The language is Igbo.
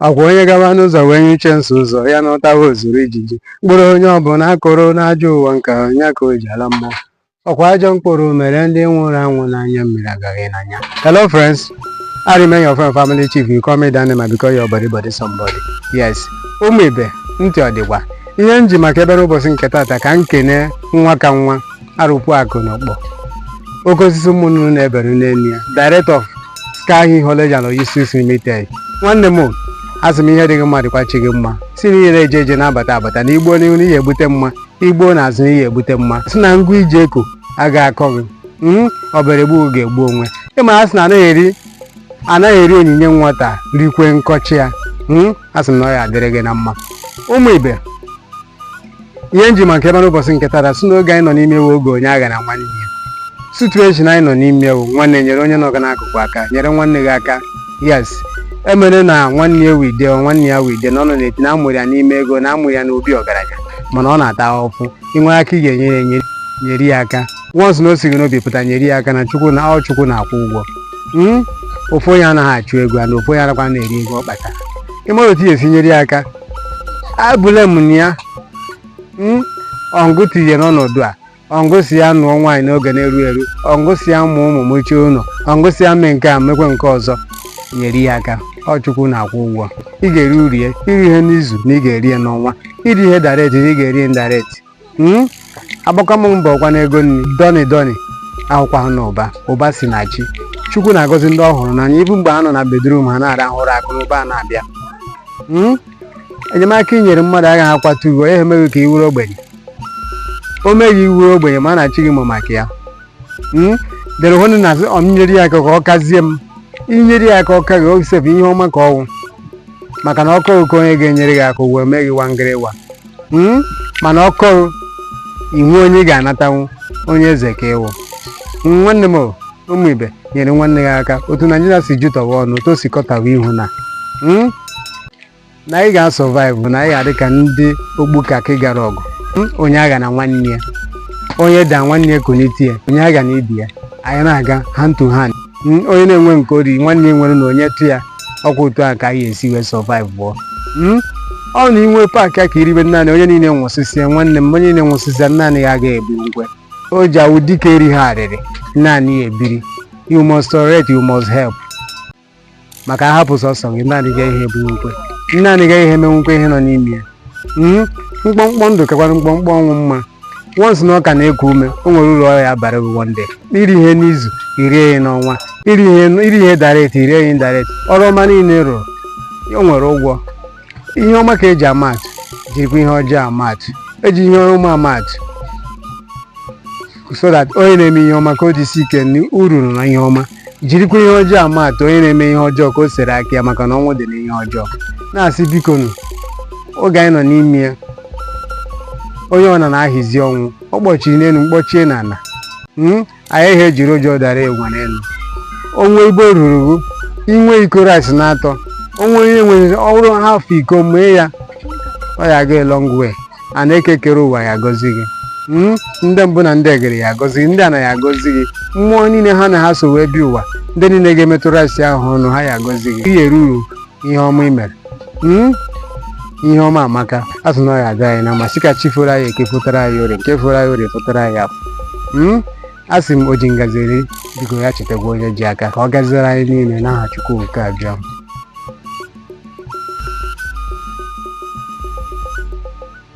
Ọkwa onye gaba n'ụzọ wee nyụchie nsị ụzọ ya natawa o zuru ijiji mkpụrụ onye ọbụla kụrụ n'ajọ ụwa nke a ya ka o ji ala mmụọ ọkwa ajọ mkpụrụ mere ndị nwụrụ anwụ n'anya mmiri agaghị n'anya hello friends I remain your friend family chief you call me Danny ma because your body body somebody yes ụmụ ibe ntị ọ dịkwa ihe m ji maka ebe n'ụbọchị nke tata ka m kene nwa ka nwa arụkwu akụ na ọkpọ oke osisi ụmụ nnụnụ na-ebere n'elu ya director of sky hill college and logistics limited nwanne m asị m ihe dị gị mma dịkwa chi gị mma sị na ije na-eje eje na-abata abata na i gbuo n'ihu na ị ya-ebute mma i gbuo na azụ na ị ya-ebute mma sị na ngụ i ji eko a ga-akọ gị mm, ọ bịara egbu gị egbuo onwe ya m asị na anaghị eri anaghị eri onyinye nwata rikwe nkọchi ya mm, a sị m na ọ ya adịrị gị na mma ụmụ ibe ihe nji maka ebe n'ụbọchị nke tata sị na oge anyị nọ n'ime ya wụ oge onye aghana nwanne ya situation anyị nọ n'ime ya wụ nwanne nyere onye nọ gị n'akụkụ aka nyere nwanne gị aka yes ị mara na nwanne ya wụde nwanne ya wụde na ọ nọ na-eti na amụrụ ya n'ime ego na amụrụ ya n'obi ọgaranya mana ọ na-ata ahụhụ i nwee aka ị ga-enye ya enye- nyere ya aka once na o si gị n'obi pụta nyere ya aka na chukwu na ọ chukwu na-akwụ ụgwọ Mm? ofu onye anaghị achụ ego a na ofu onye anakwanụ eri ego ọ kpatara ị mara otu ị ya-esi nyere ya aka abụle m na ya Mm? ọ mụ tinye n'ọnọdụ a ọ mụ sị ya nụọ nwaanyị n'oge na-eru eru ọ mụ sị ya mụọ ụmụ mechie ụlọ ọ mụ sị ya mee nke a mekwe nke ọzọ nyere ya aka ọ chukwu na-akwụ ụgwọ ị ga-eri uru ya i righị ya n'izu na ị ga-eri ya n'ọnwa i righị ya direct na ị ga-eri ya indirect hmm? agbaka m mbọ awụkwanụ ego na ndọni ndọni awụkwanụ ụba ụba si na chi chukwu na-agọzi ndị ọ hụrụ n'anya even mgbe ha nọ na bedrum ha na-arahụ ụra akụ na ụba na-abịa hmm? enyemaka i nyere mmadụ agaghị akwatu ugo ya emeghị ka ị wụrụ ogbenye o meghị ị wụrụ ogbenye ma a na-achị gị amụ maka ya hmm? ndị ahụ na-asị ọ m nyere ya aka ka ọ kazie m i nyere ya aka ọ ka gị sef ihe ọma ka ọ wụ maka na ọkọ oke onye ga-enyere gị aka ụwa mee gị wangịrịwa Hmm? mana ọkọrụ ị wụ onye ga-anatanwu onye eze ka ị wụ nwanne m ụmụ ibe nyere nwanne gị aka otu naijiria si jụtọwa ọnụ otu o si kọtawa ihu na hmm? na anyị ga-asọvaịvụ na anyị ga-adị ka ndị ogbu kakị gara ọgụ hmm? onye aghana nwanne ya onye daa nwanne ya kunitie ya onye aghana ibe ya anyị na-aga hand to hand Mm, onye na-enwe nke o ri nwanne ya nwere na-enyetụ ya ọkwa otu a ka anyị esi wee sọvaịvụọ Mm, ọ na i nwee paakịa ka i ribe naanị onye niile nwụsịsịa nwanne m onye niile nwụsịsịa naanị ya agaghị ebu ngwe o ji awụ dike eri ha arịrị naanị ya ebiri you must tolerate you must help maka a hapụ sọsọ gị naanị gị ihe bụ nkwe naanị gị ị ya-emenwukwa ihe nọ n'ime ya mm-hmm. mkpọmkpọ ndụ kakwara mkpọmkpọ ọnwụ mma once na ọ ka na-eku ume o nwere ụlọ ọrụ ya bara ụgwọ ndị iri ihe n'izu i rie ya n'ọnwa iri ihe direct i rie ya direct ọrụ ọma niile rụrụ o nwere ụgwọ ihe ọma ka e ji ama atụ jirikwa ihe ọjọọ ama atụ e ji ihe ọma ama atụ so that onye na-eme ihe ọma ka o jisi ike uru na ihe ọma jirikwa ihe ọjọọ ama atụ onye na-eme ihe ọjọọ ka o sere aka ya maka na ọnwụ dị n'ihe ọjọọ na-asị bikonụ oge anyị nọ n'ime ya onye ọ nọ na-ahịzi ọnwụ ọ kpọchiri n'elu mkpọchie n'ala hmm? anyị ihe ejiri ụjọ dara enwe n'elu o nwee ebe o ruru i nwee iko rice na atọ o nwee onye nwere ọhụrụ half iko mee ya ọ ya-aga a long way na Eke kere ụwa ya agọzi gị hmm? ndị mbụ na ndị egede ya agọzi gị ndị nna gị agọzi gị mmụọ niile ha na ha so wee bi ụwa ndị niile ga-emetụrụ asị ahụ ọnụ ha ya agọzi gị ihe ruru ihe ọma i mere hmm? ihe ọma amaka a sị na ọ ya-aga anyị na mma sị ka chi foro anyị eke fotara anyị orie nke foro anyị orie fotara anyị afọ hmm? a sị m o ji ngazi eri biko ya chetakwa onye ji aka ka ọ gaziere anyị niile n'aha Chukwu okike abịa